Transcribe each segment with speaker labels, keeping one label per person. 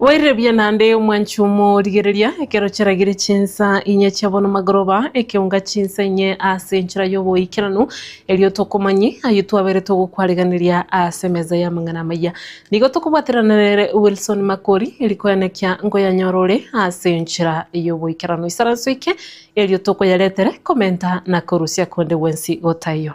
Speaker 1: Boirerebiya naende omwanchi omo rigereria, ekero chiaragire chinsa inye chia bono magoroba, ekeunga chinsa inye ase enchera y'oboikeranu, erio tokomanyi ayio twaberete ogokwariganiria ase emeza y'amang'ana amaya. Nigo tokobwaterana nere Wilson Makori, erikoenekia nkoyanyora ore ase enchera y'oboikeranu. Isaranso ike erio tokoyaretere komenta na korusia konde gwensi gotaiyo.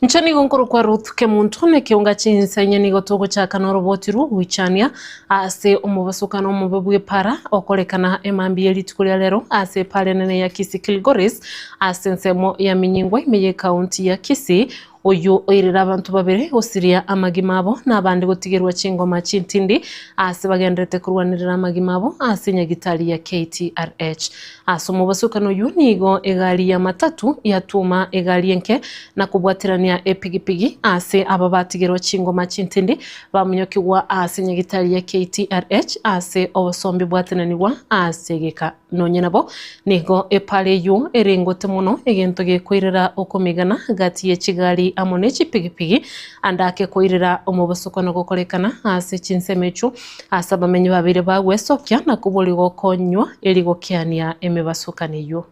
Speaker 1: Inche nigo nkorokwa Ruth Kemunto, na ekeunga chinsa inye nigo togochaka noroboti rw'ogoichania ase omobasukano omobe bw'epara okorekana emambia ye rituko ria rero ase epara enene ya Kisii Kilgoris ase ensemo ya Minyingwa ime ye County ya Kisii. Oyio oirire abanto babere gosiria amagima abo na abande gotigerwa chingoma chintindi ase bagenderete korwanerera amagima abo ase nyagitari ya KTRH. Ase omobosokano oyio nigo egari ya matatu yatuoma egari enke na kobwaterania epigipigi ase aba batigerwa chingoma chintindi bamonyokigwa ase nyagitari ya KTRH ase obosombi bwatenanigwa ase egeka. Nonye nabo nigo epara eyio ere ngote mono egento gekoirera okomegana gati ye chigari amo ne chipigipigi ande ake koirera omobosokano gokorekana ase chinsemo echio Ase abamenyi babeire bagwesokia na kobori gokonywa eri gokiania emebasukani eyio.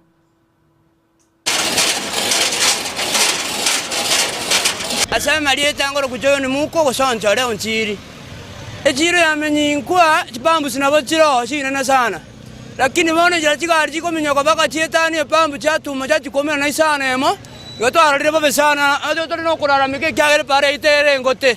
Speaker 2: Ase amarieta angoro gocha oyonde mouko ogosoncha ore onchiiri. Echiiro y'amenyi inkwa, chipambusi nabo chire oo chinene sana. Lakini bono enchera chigari chigominyoka mpaka chietanie epambu chiatuma chiachikumera na isano emo, igo twarorire bobe sana, na tore nokorarameka ekiagera epara yaito ere engote.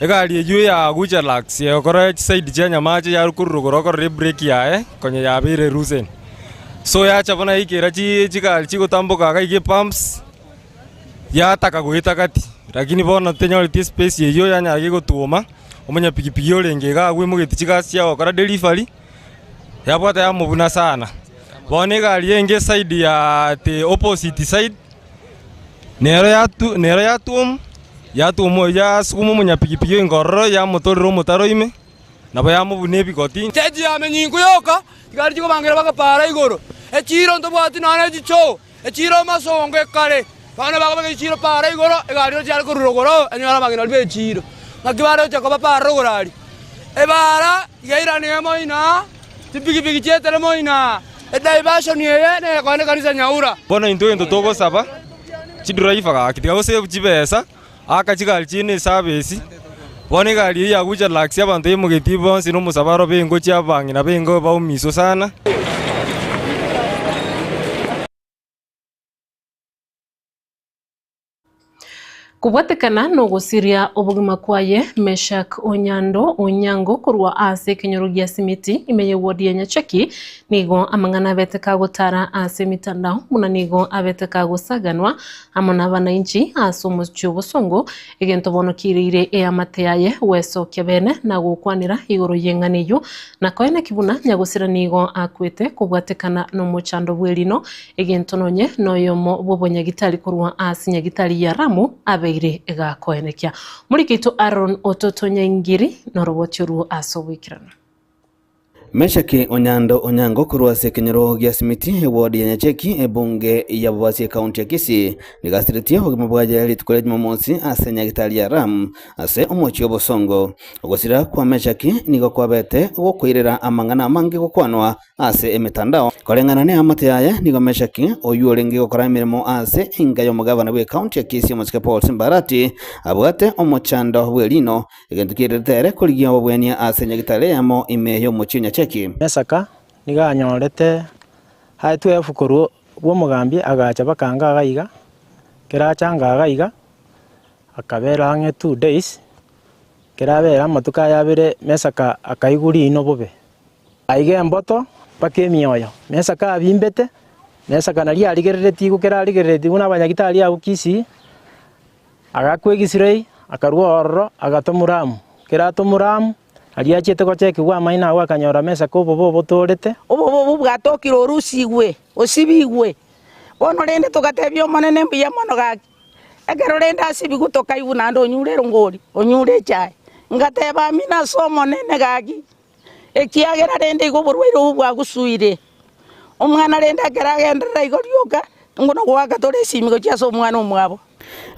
Speaker 3: Egari eyio ya Guja Lux yayokorire chisaidi chi'enyamache yarukorire korwa korora ebureki yaye konya yabeire eruuseni. So yacha buna yaikera chi- chigari chigotamboka iga iga epumps, yataka goeta gati, lakini bono tenyoreti espesi eyio yanyara gei gotwoma, omonyapigipigi orenge iga agwo aimogetie chigasi chia gokora delivery, yabwata yamobuna sana. Bono egari enge esaidi ya the opposite side. Nero yatuomu, yatuomu oyio yasukuma omonyapigipigi enkororo, yamotorera omotaro ime, nabo yamobunia ebigoti. Chechio yame nyinko
Speaker 2: yoka, chikari chikobangera mpaka paara igoro, echiiro ntobwati nonya nechichoo, echiiro amasongo ekare. Bono bakobeka echiiro paara igoro, egari ero tiare korura igoro oo, enyora abang'inani b'echiiro. Naki bare gochia koba paara igoro aria. Ebaara iga eirana emo inaa. Chipigipigi chi'eteremo ina. Edivaishoni eye neyekoenda ekanisa nyaura. Bono intwe gento togosaba,
Speaker 3: chidiraiva gaki tigagosebu chibesa, aaka chigari chiaino esabesi. Bono egari eyio yagucha relaxia abanto yaimogetie bonsi na omosabaro baingochia ababang'ina na baingo baumiswe sana.
Speaker 1: Kobwatekana nogosiria obogima kwaye, Meshack Onyando Onyango korwa aase ekenyoro gia Simiti ime ye ward ya Nyachaki nigo amang'ana abete kagotara aase emitandao buna nigo abete kagosaganwa amo nabanainchi aase omochie obosongo egento bono kiireire eamate yaye gwesokia bene nagokwanera igoro yeng'ana eyio nakoeneki buna Nyagosira nigo akwete kobwatekana nomochando bwerino Egento nonye noyomo bw'obonyagi tari korwa ase nyagitari ya Ramu abeire egakoenekia. Omoriki oito Aron ototonyaingiri noroboti oruo ase ogoikerana.
Speaker 4: Meshaki Onyando Onyango korwa ase ekenyoro gia Simiti, ewodi ya Nyacheki, ebunge ya Bobasi Ekaunti ya Kisii, nigasiritie obogima bwaye rituko ria Jumamosi ase nyagitari ya Ram ase omochie obosongo. Ogosira kwa Meshaki nigo kwabete gokoirera amang'ana amange gokwanwa ase emetandao koreng'ana neamate yaye. Nigo Meshaki, oyio orenge gokora emeremo ase enka y'omogavana bw'ekaunti ya Kisii Omochike Paul Simbarati, abwate omochando bw'erino, egento kiairerete ere korigia obobwania ase nyagitari eyemo ime y'omochie o Nyacheki. Mesaka
Speaker 5: nigo anyorete aetwe efu korwa bw'omogambi agacha baka anga iga iga, ekero acha anga iga iga akabera ang'e two days, ekero abera amatuko aya abere Mesaka akaigwa riino bobe. Aige emboto mpaka emioyo, na esaka abimbete, na esaka naria arigereretie igwe kera arigereretigwe nabanyagitari abwo Kisii, agakwa egisirei, akarua ororo, agatomwa Ramu. Kera atomwa Ramu, aria achiete gochekigwa amaino agwo akanyora mesaka obobe obotoorete. Obobe obwo bwatookire
Speaker 6: orusigwe, osibigwe. Bono rende togatebia Omonene, Mbuya mono gaki, ekero rende asibigwe tokaigwa naende onyure erongori, onyure echae. Ngateba, Amina as'Omonene gaki. ekiagera rende igo oborwaire obwo bwagosuire. Omwana rende ekero agenderera igo rioka, nigo nogoaka tore esimi gochia ase omwana omwabo.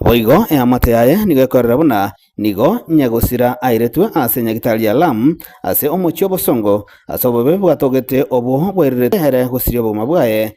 Speaker 6: Boigo
Speaker 4: eamate yaye nigo ekorera buna nigo nyegosira airetwe ase nyagitari ya Lam, ase omochie obosongo, ase obobe bwatogete obwo bwairirete ere gosiria obogima bwaye.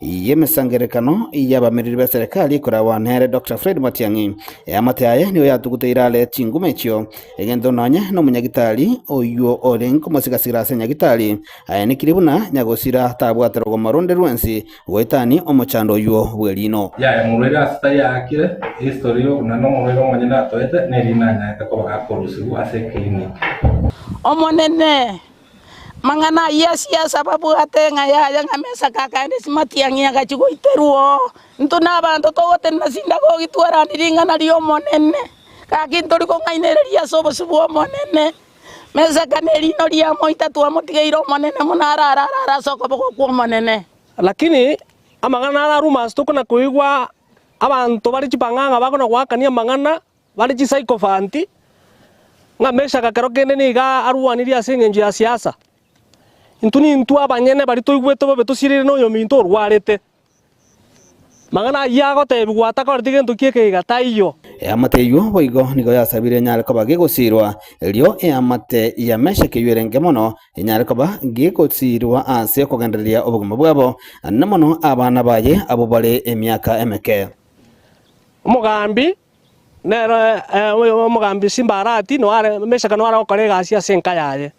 Speaker 4: y'emesangererekano y'abamereri ba serikali ekoragwa nere Dr Fred Matiang'i. Eamate aye nigo yatuguteire are chinguma echio, egento nonye nomonyagitari oyio ore nkomosigasira ase nyagitari, ayanekiri buna nyagosira tabwate rogomo ronde rwensi goetania omochando oyio bw'eriino. Yaya morwaire ase tari
Speaker 7: aakire, history y'obuna nomorwaire omonyene atoete, neriina anyaete koba akorusigwa ase eclinic. Omonene,
Speaker 6: Amang'ana ayio ase Yeso ababwate ng'a yaya ng'a mesaka akaenda esimatiang'i agachia goiterwa oo. Intwe nabaanto togotenena sinagogi twaranie ring'ana ri'Omonene. Gaki ntori kong'ainereria ase obosio bw'Omonene. Mesaka nerino ria moita twamotigeire Omonene buna arare arare ase okoboko kw'Omonene. Lakini
Speaker 5: amang'ana araruma ase tokona koigwa abanto bare chipang'ang'a bakona goakania amang'ana Bare chisaikofanti, ng'a Meshaki ekero kende nigo arwanirie ase engencho ya siasa. Intwe nintwe abanyene baria toigwete bobe tosiriire noyominto orwarete. Amang'ana ayio agotebigwa atakoreti gento ki'ekeiga taiyo. Eamate eyio
Speaker 4: boigo nigo yasabire enyare koba gegosiirwa, erio eamate ya Meshaki eyio erenge mono enyare koba gegosiirwa ase okogendereria obogima bwabo, na mono abana baye abwo bare emiaka emeke.
Speaker 5: Omogambi Nere oyomogambi Simbarati noare, Mesaka noare gokora egasi ase enka yaye.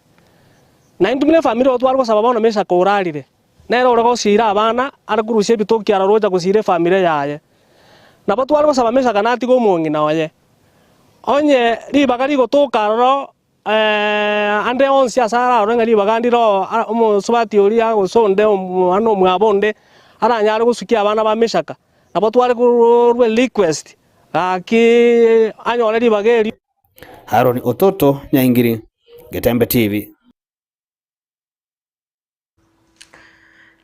Speaker 5: Na intwe buna efamiri igo tware gosaba bono Mesaka orarire. Nere ore gosiira abana, are korusia ebitoki aroro gocha gosiira efamiri yaye. Nabo tware gosaba Mesaka natige omong'ina oye. Onye ribaga rigotoka aroro Ande onsi ase ararore ng'a ribaga ndire omosubati oria, gose onde mwana omwabo onde, aranyare gosukia abana ba Mishaka, nabo tware korwa request, gaki anyore ribaga erio. Haroni
Speaker 4: Ototo Nyaingiri, Getembe TV.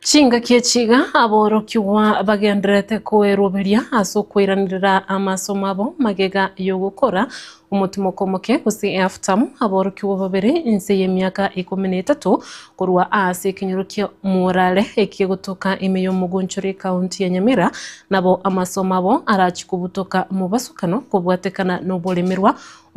Speaker 1: Chingaki echi iga aborokigwa bagendererete koeroberia ase okoiraneria amasomo abo, magega y'ogokora, omotimoko omoke, gose eaftamu, aborokigwa babere inse y'emiaka ikomi na etato, korwa aase ekenyoro kia Murale ekiya gotoka ime y'omogonchori ekaunti ya Nyamira, nabo amasomo abo arachie kobutoka mobasokano kobwatekana noboremerwa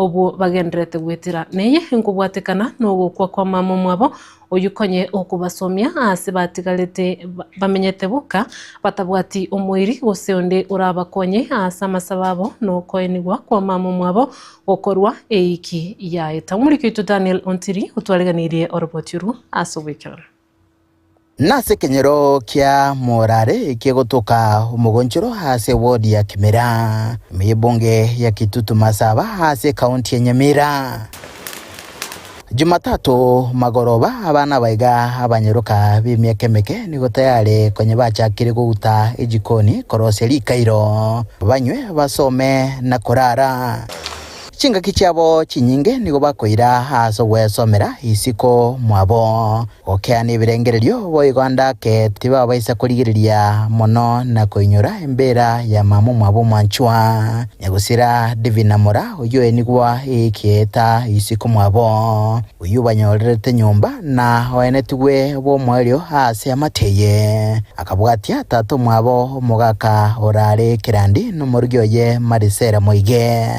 Speaker 1: obwo bagendererete goetera. Neye enkobwatekana nogokwa kw'amamomo abo Oyio konye okobasomia aase batigarete bamenyete boka, batabwati omoiri gose onde orabakonye aase amasabo abo nokoenigwa kwamama mwabo gokorwa eiki yaeta. Omoriki oito Daniel Ontiri otwareganirie oroboti orwo ase oboikeranu.
Speaker 8: Nase ekenyero kia Morare ekegotoka omogonchoro ase ewodi ya Kimira, ime y'ebunge ya Kitutu Masaba ase ekaunti ya Nyamira. Jumatato magoroba abana abaiga abanyeroka b'emiaka emeke nigo tayare konya bachakire gouta ejikoni korosia rikairo, banywe, basome, na korara. Chingaki chiabo chinyinge nigo bakoira ase ogwesomera isiko mwabo. Gokea nebirengererio boigo ndake tibabaisa korigereria mono na koinyora embeera ya mama omwabo omwanchwa, nyagusira Divina Mora, oyio enigwa egeeta isiko omwabo, oyio banyorerete nyomba na oenetigwe bw'omoerio aase amate aye. Akabwatia tata omwabo omogaka orare Kirandi nomorogi oye Marisera moige.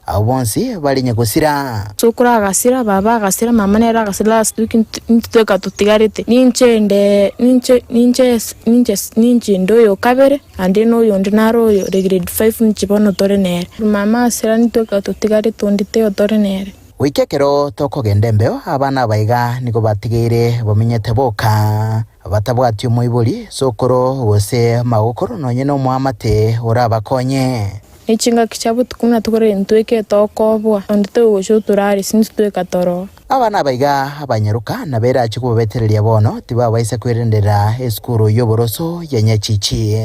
Speaker 8: Abwo bonsi barenge gosira. Sokoro agasira,
Speaker 9: baba agasira, mama nere agasira last week intwe tweka totigarete. Ninche inde ninche ninche ninche ninche inde oyo o kabere naende na oyo onde nare oyo ore grade five ninche bono tore nere. Mama agasira intwe tweka totigarete onde taiyo tore nere. Goika ekero
Speaker 8: tokogenda embeo abana aba iga nigo batigeire bamenyete boka, batabwati omoibori, sokoro, gose magokoro nonye nomoamate orabakonye. Ne chingaki chia
Speaker 9: botuko ng'a togorere intweka etokoboa, onde togocha oturare, sinto tweka toroa. Aba nabaiga
Speaker 8: abanyaruka, na bera achia kobabetereria bono tibabaisa kwerenderera esukuru y'oboroso ya Nyachichi.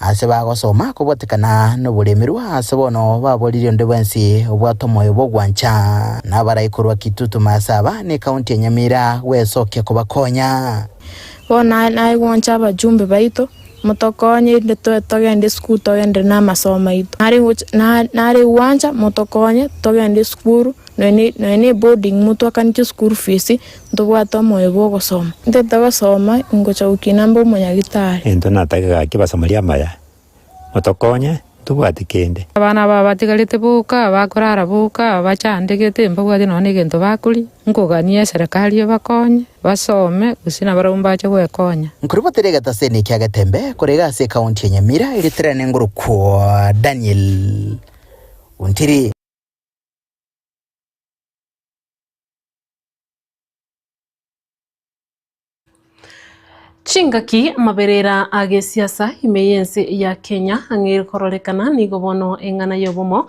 Speaker 8: Aase bagosoma kobotekana noboremerwa, aase bono baboriri onde bwensi obwate omoyo bw'ogwancha, nabarai korwa Kitutu Maasaba ne County ya Nyamira gwesokia kobakonya. Bono aye
Speaker 9: naye gwancha abajumbe baito. Motokonye inde toe togende esukuru togenderere namasomo aito. Nare gocha na nare gwancha motokonye togende esukuru noe ne noe ne boarding motwakaneti esukuru fees ntobwate omoyo bwa ogosoma. Ntete gosoma ingocha gokina mbe omonyagitari. Intwe natake gaki
Speaker 10: basomari amaya, motokonye. tobwati kende. Abana aba batigarete
Speaker 11: boka, abakorara boka, abachandegete, mbabwati nonya negento bakoria, nkogania eserekari ebakonye, basome, gose nabarabwo mbache gwekonya. Nkoribotera egetaseni
Speaker 8: ekia Getembe korege ase ekaunti ya Nyamira eritirane ngorokwa Daniel Ontiri.
Speaker 1: Chingaki amaberera a gesiasa ime y'ense ya Kenya ang'e ere kororekana, nigo bono eng'ana y'obomo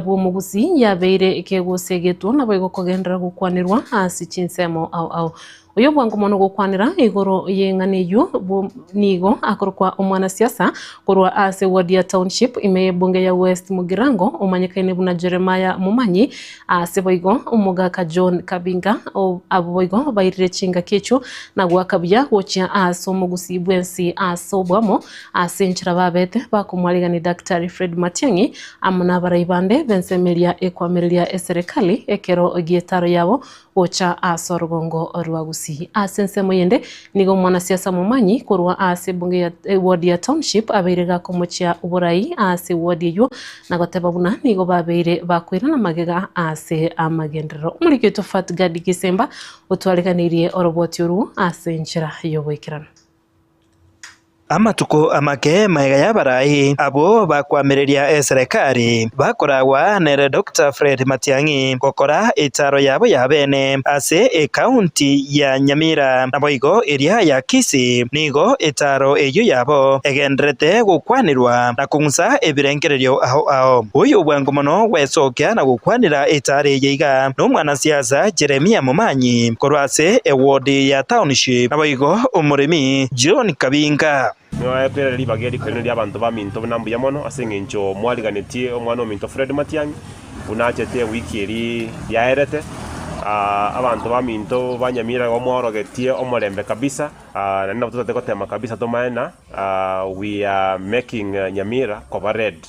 Speaker 1: bw'omogusii yabeire ekegosegetwo nabo egokogenderera gokwanerwa ase chinsemo ao ao. Oyobwango mono gokwanera igoro y'eng'ana eyio bwo- nigo akorokwa omwanasiasa korwa ase ward ya Township ime y'ebunge ya West Mugirango omanyekaine buna Jeremiah Momanyi, Aase boigo omogaka John Kabinga o abwo boigo bairire chingaki echio na goaka buya gochia aase omogusii bw'ensi aase oboamo aase enchera babete bakomwaregani Daktari Fred Matiang'i amo nabarai bande b'ensemo eria ekoamereria eserekali ekero gietaro yabo gocha aase orogongo rwa gusii. Aase ensemo yende nigo omwanasiasa momanyi korwa aase ebunge ya ewodi ya Township abeire gakomochia oborai aase ewodi eywo na goteba buna nigo babeire bakoirana magega ase amagenderero. Omoriki oito Fat Gadi Gisemba otwareganeirie oroboti orwo ase enchera y'ogoikerana. Amatuko
Speaker 12: amake magega y'abarai abwo bakwamereria eserekari bakoragwa nere Doctor Fred Matiang'i gokora etaaro yabo ya bene ase ekaunti ya Nyamira naboigo eria ya Kisii nigo etaaro eyio yabo egenderete gokwanerwa na akong'usa ebirengererio ao ao. Oyo obwango mono gwesokia na gokwanera etaara eye iga n'omwanasiasa Jeremia Momanyi korwa ase ewodi ya Township, naboigo omoremi John Kabinga. Nyoetire ribaga
Speaker 13: eri rikorire ri'abanto baminto buna mbuya mono ase engencho mwariganetie omwana ominto Fred Matiang'i buna achete ewiki eri yaerete. Abanto baminto banyamira igo mwaorogetie omorembe kabisa, naende nabo totaete gotema kabisa tomae na. We are making Nyamira koba red.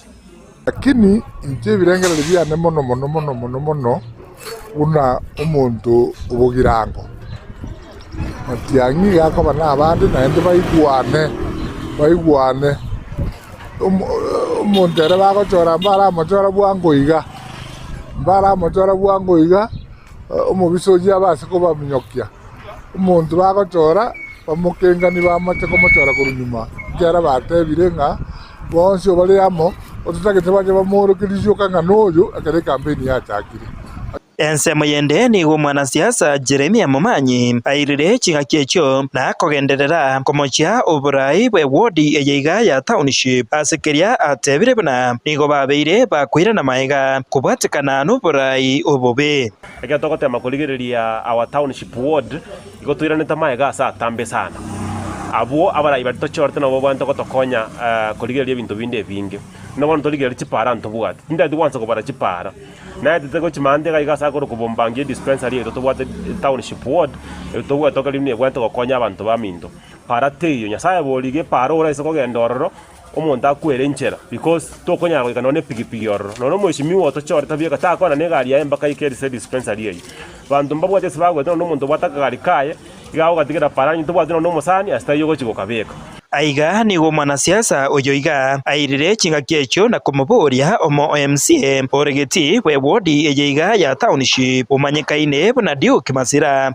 Speaker 13: Lakini
Speaker 14: inche ebirengererio biane mono mono mono mono mono buna omonto obogirango. Amatiang'i iga akoba nabande naende baigwane, baigwane. Omonto ere bagochora mbaramochora bwango iga, mbaramochora bwango iga, omobisa oyio abe ase kobaminyokia. Omonto bagochora bamokengani bamache komochora korwa nyuma, ekiagera batebire ng'a bonsi bare amo ototagete bache bamooroke risioka ng'a noyo ekero ekampeni yachakire. Ensemo
Speaker 12: yende nigo omwanasiasa Jeremia Momanyi airire ching'aki echio na akogenderera komochia oboraai bwe ward eye iga ya township ase keria atebire buna nigo babeire bakoirana magega kobwatekana noboraai obobe. Ekero togoteema
Speaker 13: korigereria our township ward, igo toiranete amaega ase atambe sana. Abwo abarai baria tochiorete nabo babwate gotokonya korigereria ebinto binde ebinge. Buna bono torigereria chipaara ntobwati, tindaeti gwansa kobara chipaara. Naetete gochia maambia iga iga ase akorwa kobombangia edispensary erio tobwate township ward, erio tobwate buna ebwate gokonya abanto baminto. Paara teiyo. Nyasae boria iga epaara oraise kogenda ororo, omonto akwere enchera, because tokonyara goika nonya nepigipigi ororo. Nonya omweshimiwa otochore tabieka, takwana negari yaye mpaka aike ase dispensary eyio. Banto mbabwate ase bagwete nonya omonto obwate akagari kaye, iga agogatigera paro onye tobwati nonya omosani ase taiyo ogochi gokabeka. Aiga nigo
Speaker 12: omwanasiasa oyo iga airire chingaki echio na komoboria omo o MCA ore geti bw'ewodi eye iga ya township omanyekaine buna Duke Masira.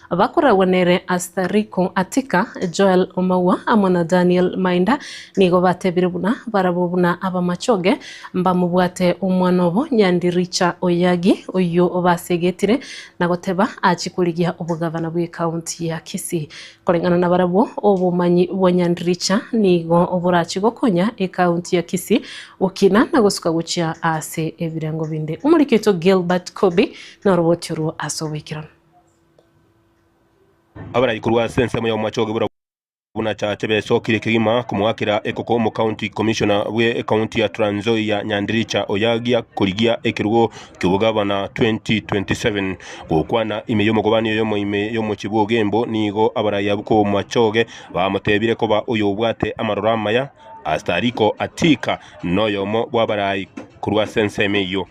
Speaker 1: Abakoragwa nere Astariko, Atika, Joel Omaua amo na Daniel Mainda nigo batebire buna barabwo buna abamachoge mbamobwate omwana obo Nyandiricha Oyagi oyio basegetire na goteba achie korigia obogavana bw'ekaunti ya Kisii. Koreng'ana na barabwo, obomanyi bwa Nyandiricha nigo borachie gokonya ekaunti ya Kisii gokina na gosuka gochia ase ebirengo binde. Omoriki oito Gilbert Kobi noroboti orwo ase oboikeranu.
Speaker 13: Abarai korwa ase ensemo y'omwache ogebura buna chache besokire kegima komoakera ekoko omocounty commissioner bwe ecounty ya Trans Nzoia Nyandiricha oyagia korigia ekerugo ki'obogavana 2027. Gokwana ime y'omogobani oyo omoime y'omochie bw'ogembo nigo abarai abwo kw'omwachoge bamotebire koba oyobwate amaroro amaya astariko atika noyomo bw'abarai korwa ase ensemo eyio.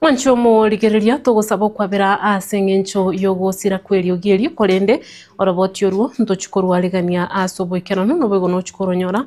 Speaker 1: Mwanche omorigereria, togosaba okwabera aase engencho y'ogosira kw'eriogi erio, korende oroboti orwo ntochia korwaregania aase oboikeranu, noboigo nochia koronyora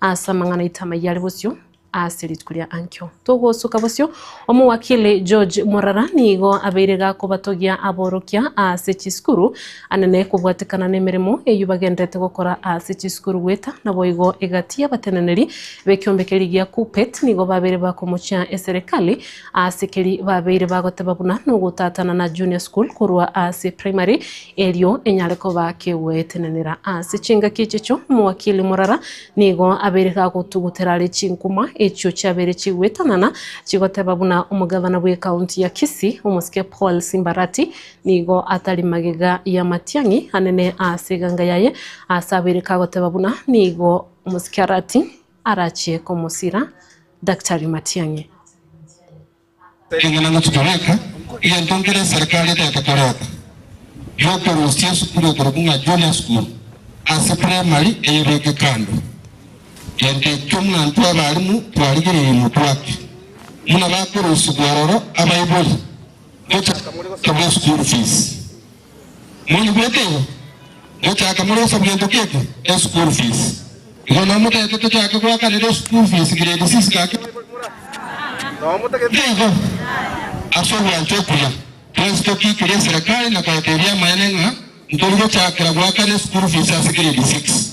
Speaker 1: aase amang'ana aito amayia are bosio. Ase rituko ria Ankio togosoka bosio, Omowakili George Morara nigo abeire gakobatogia aborokia ase chisukuru anene kobwatekana nemeremo eyio bagenderete gokora ase chisukuru goeta naboigo egati y'abateneneri b'ekiombe keria gia Kuppet nigo babeire bakomochia eserekari ase keria babeire bagoteba buna nogotatana na junior school korwa ase primary erio enyare koba kegoetenenera ase chingaki echicho Omowakili Morara Nigo abere gagotugutera are chinkuma echio chiabere chigoetanana, chigoteba buna omogavana bw'ekaunti ya Kisii, omosike Paul Simbarati, nigo atari magega y'amatiang'i anene aase eganga yaye, aase abere kagoteba buna nigo omosike Arati arachie komosira Daktari Matiang'i. Ekiagera
Speaker 15: inwe titoreka egento nkere eserekari etaete koreta, gi'okorosia esukuru ekorokwa ng'a Junior School ase primary eyebeke kando. Gento ekio buna intwe abarimu twarigereirie motwake buna bakorosigwa aroro abaibori gocha gotoka bwe school fees. Mono goika igo, mochaka morosa gento gete e school fees. Igo nao motete tochake goakanera e school fees grade six gaki Bible moranyore. Nao motagete igo, ase ogwancha okuya, twensi tokiikirie eserekari na koetebia amaene ng'a ntori gochakera goakana e school fees ase grade six.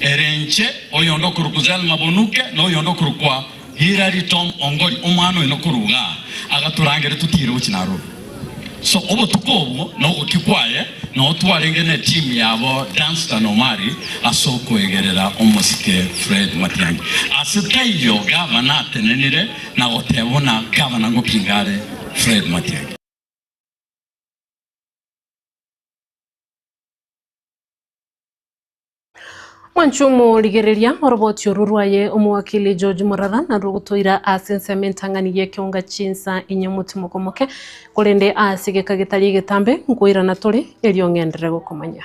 Speaker 16: Ere inche, oyonde okorokwa Zell Mabonuke, na oyonde okorokwa Hillary Tom Ongori, omwana oino korwa iga agatorangere totiire gochia Nairobi. So obotuko obwo na ogokia kwaye nao twarenge ne timu yabo Dunstan Omari ase okoegerera omosike Fred Matiangi. Ase taiyo gavana atenenire na goteba buna gavana ngokinga are Fred Matiangi.
Speaker 1: Mwanche omorigereria, oroboti orwo rwaye omowakili George Murara narwo ogotoira ase ensemo entang'ani y'ekeonga chinsa inye omotimoko omoke, korende ase egeka getari egetambe nkoirana tore, erio ng'enderere gokomanya.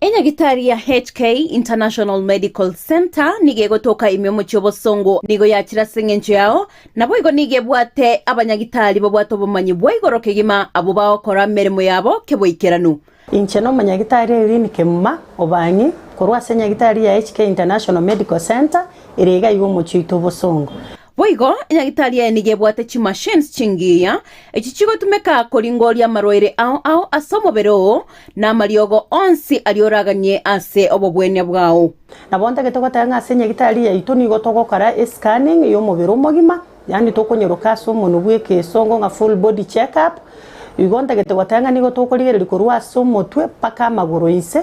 Speaker 17: Enyagitari ya HK International Medical Centre nigo egotoka ime omochie obosongo nigo yachire ase engencho yao, naboigo nigo ebwate abanyagitari babwate obomanyi bwa igoro kegima abwo bagokora emeremo yabo keboikeranu. Inche nomonyagitari
Speaker 18: Irene Kemuma Obang'i korwa ase enyagitari ya HK International Medical Centre ere iga iga omochie oito obosongo. Boigo
Speaker 17: enyagitari eye nigo ebwate chimachines chingiya, echio chigotumeka koringoria amarwaire ao ao ase omobere oo, na amariogo onsi aria oraganie ase obobwania bwao. Nabo ntagete goteba
Speaker 18: ng'a ase enyagitari yaito nigo togokora e-scanning y'omobere omogima, yaani tokonyeroka ase omonwe bw'ekeesongo ng'a full body check-up. Igo ntagete goteba ng'a nigo tokorigereria korwa ase omotwe mpaka amagoro inse,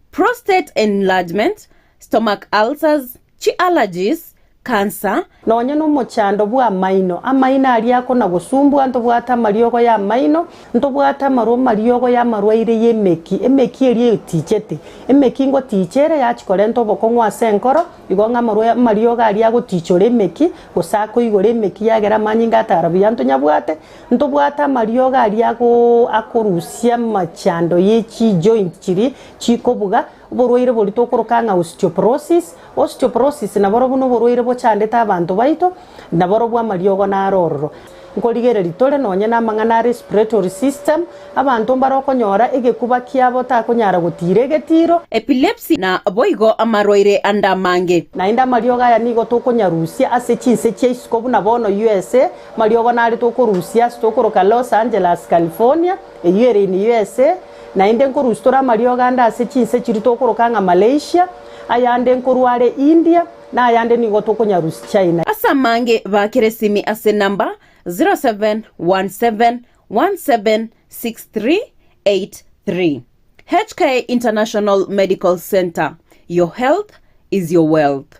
Speaker 17: prostate enlargement, stomach ulcers, chi'allergies, cancer, Nonya nomochando
Speaker 18: bw'amaino, amaino aria akona gosumbua, ntobwate amariogo y'amaino, ntobwate amarwa amariogo y'amarwaire y'emeki, emeki eria eyotichete, emeki ngotiche ere yachi korenta obokong'u ase enkoro, igo ng'a amarwa amariogo aria agotichora emeki, gose akoigora emeki yagera amanyinga atara buya ntonyabwate, Ntobwate amariogo aria akorusia amachando ye chijoint chiria chikobuga, oborwaire boria tokoroka ng'a osteoporosis. Osteoporosis naborobwo noborwaire bochandete abanto baito, naborobwo amariogo naro ororo. Nkorigereria tore nonye namang'ana a respiratory system, abanto mbare okonyora egekuba kiabo takonyara gotiira egetiro. Epilepsy na
Speaker 17: boigo amarwaire ande amange. Naende amariogo
Speaker 18: aya nigo tokonyarusia ase chinse chia isiko buna bono USA. Mariogo naretwe okorusia ase tokoroka Los Angeles, California, eyio ere in USA. Naende nkorusia tore amariogo ande ase chinse chiria tokoroka ng'a Malaysia, ayande nkorwa are India, na ayande nigo tokonyarusia China. Ase amange
Speaker 17: bakera esimi ase number 0717176383. HK International Medical Centre, your health is your wealth.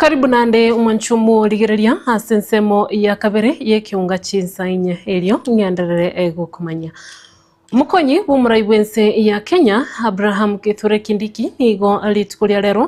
Speaker 1: Karibu naende omwancho omw'origereria ase ensemo ya kabere y'ekeunga chinsa inye, erio ng'enderere gokomanya. Omokonyi bw'omorai bw'ense ya Kenya, Abraham Kithure Kindiki nigo rituko ria rero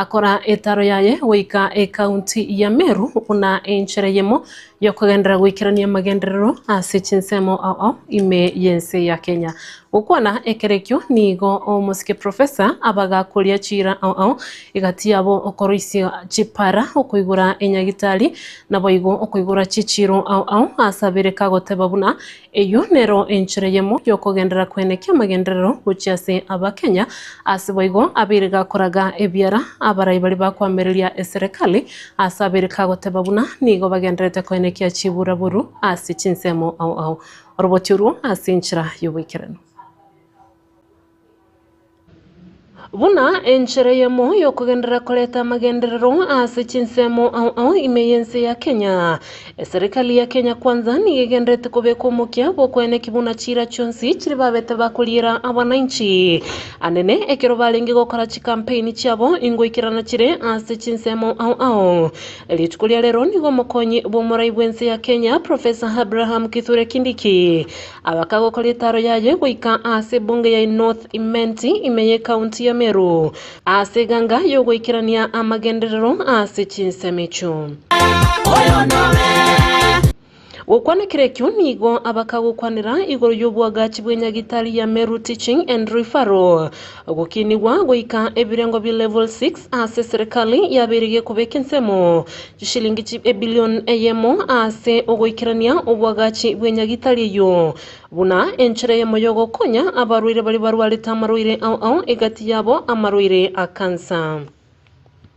Speaker 1: akora etaro yaye goika ekaunti ya Meru buna enchera eyemo yokogenderera goikerania amagenderero ase chinsemo ao ime y'ense ya Kenya. Gokwana ekerekio nigo omosike Professor abagakoria chiira ao egati yabo okoroisia chipara okoigora enyagitari naboigo okoigora chichiiro ao asabere kagoteba buna Eyio nero enchera eyemo y'okogenderera kwene ki'amagenderero gochia ase Abakenya, ase boigo abeire gakoraga ebiara abarai baria bakoamereria eserekari ase abeire kagoteba buna nigo bagendererete koenekia chiburaboru ase chinsemo ao ao oroboti oruo ase enchera y'oboikeranu. Buna enchera eyemo y'okogenderera koreta amagenderero ase chinsemo ao ao ime y'ense ya Kenya, eserekari ya Kenya Kwanza nigo egendererete kobeka omokia bw'okweneki buna chiira chionsi chiria babete bakoriera abanainchi anene ekero barenge gokora chikampeini chiabo ingoikerana chire ase chinsemo ao ao. Rituko ria rero nigo omokonyi bw'omorai bw'ense ya Kenya, Professor Abraham Kithure Kindiki, Agaka gokora etaaro yaye goika aase ebunge ya North Imenti, ime y'ecounty ya Meru, aase eganga y'ogoikerania amagenderero aase chinsemo echio. Gokwana kera ekio nigo abaka gokwanera igoro y'obwagachi bwe nyagitari ya Meru Teaching and Referral. Ogokinigwa goika ebirengo bia Level Six ase eserekari yabeirigie kobeka ensemo chishilingi chi ebilion eyemo ase ogoikerania obwagachi bw'enyagitari eyio buna enchera eyemo y'ogokonya abarwaire baria barwarete amarwaire ao ao egati yabo amarwaire a kansa.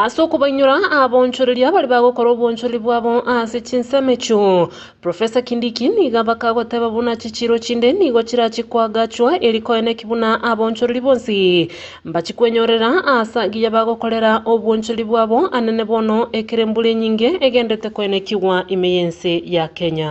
Speaker 1: Ase okobainyora abonchoreria baria bagokora obwonchoreri bwabo ase chinsemo echio, Professor Kindiki nigo bakagoteba buna chichiiro chinde nigo chirachie koagachwa erio koene ki buna abonchoreri bonsi mbachie kwenyorera ase egiya bagokorera obwonchoreri bwabo anene bono ekero embura enyinge egenderete koenekigwa ime y'ense ya Kenya.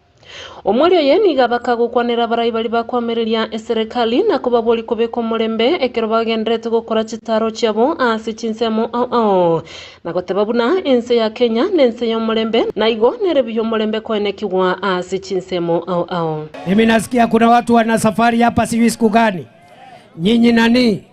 Speaker 1: Omwori oye nigo abaka gokwanera abarai baria bakoamereria eserekari na kobaboria kobeka omorembe ekero bagendererete gokora chitaaro chiabo ase chinsemo ao ao, na goteba buna ense ya Kenya nense y'omorembe, na igo nere buya omorembe koenekigwa ase chinsemo ao ao. Mimi nasikia
Speaker 19: kuna watu wanasafari hapa sijui siku gani nyinyi nanii.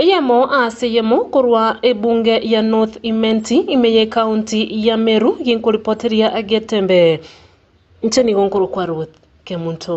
Speaker 19: Eyemo
Speaker 1: ase eyemo korwa ebunge ya North Imenti, ime y'ecounty ya Meru, ginkoripoteria getembe. Inche nigo nkorokwa Ruth Kemunto.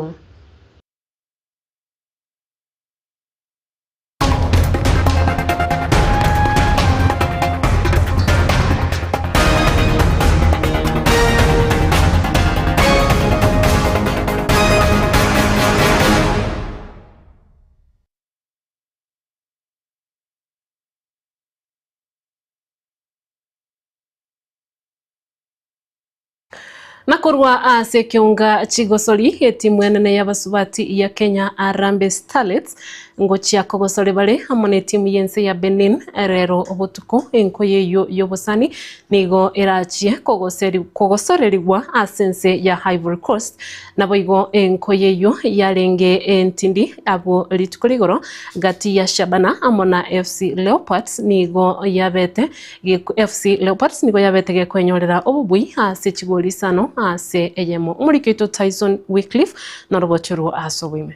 Speaker 1: Na korwa ase ekeunga chigosori etimu enene y'abasubati ya Kenya Arambe Starlets ngochia kogosore bare amo na etimu y'ense ya Benin rero botuko enkoyo eyio y'obosani nigo erachie kogoserigwa ase ense ya Ivory Coast Naboigo enko y'eyio yarenge entindi abwo rituko rigoro gati ya Shabana amo na FC Leopards nigo yabete FC Leopards nigo yabete gekwenyorera obobui ase chigori isano ase eyemo. Omoriki oito Tyson Wickliffe norogochorwe ase oboime.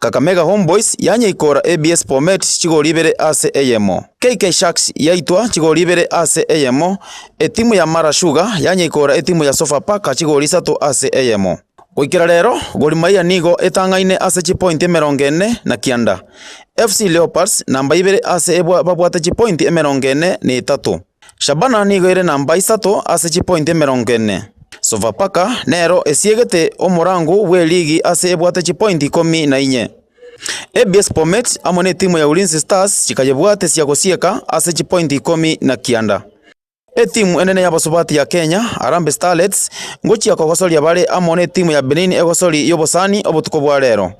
Speaker 20: Kakamega Homeboyz yanyaikoora ABS Bomet chigori ibere ase eyemo. KK Sharks yaitwa chigori ibere ase eyemo. Etimu ya Mara Sugar yanyaikoora etimu ya Sofapaka chigori isato ase eyemo. Goikera rero, Gor Mahia nigo etang'aine ase chipointi emerongo ene na kianda. FC Leopards namba ibere ase babwate chipointi emerongo ene na etato. Shabana nigo ere namba isato ase chipointi emerongo ene. Sofapaka nero esiegete omorango bwe ligi ase ebwate chipointi ikomi na inye. ABS Bomet amo netimu ya Ulinzi Stars chikayebwate sia gosieka ase chipointi ikomi na kianda. Etimu enene y'abasubati ya Kenya, Harambee Starlets, ngochia kogosoria bare amo netimu ya Benin egosori y'obosani obotuko bwa rero.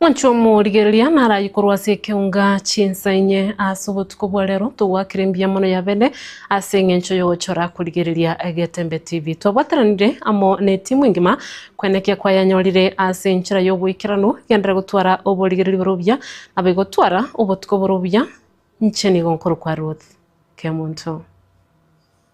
Speaker 1: Mwanche omorigereria naraye korwa ase ekeunga chinsa inye ase obotuko bwa rero togwakire mbuya mono ya bene ase engencho yogochora korigereria Getembe TV. Twabwateranire amo ne etimu engima kwena ekia kwayanyorire ase enchera yoboikeranu genderere gotwara oborigereria bore obuya nabo igotwara obotuko bore obuya inche nigo nkorokwa Ruth Kemunto.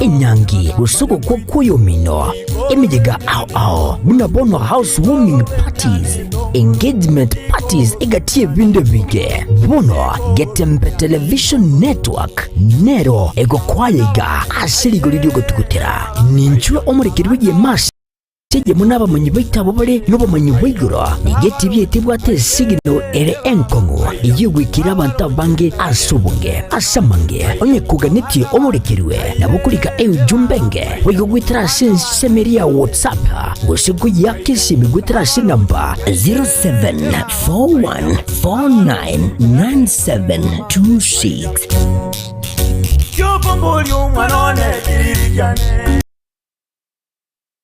Speaker 7: enyangi, gose ogokwa kw'oyomino, emeyega ao ao, buna bono housewarming parties, engagement parties egati y'ebinto ebinge. Bono Getembe Television Network nero egokwaya iga ase rigori ri'ogotugutera. Ninchwe omorekerigwa y'emasi. Eyemo nabamanyi baito abwo bare nobomanyi bwa igoro, nigo etibi eye tebwate esigino ere enkong'u eyio egwekera abanto abange ase obonge. Ase amange, onye koganetie oborekerwe, nabo korika enchumba enge, boigo goetera ase ensemeri ya WhatsApp, gose koyeaka esimi goetera ase enamba 0741499726.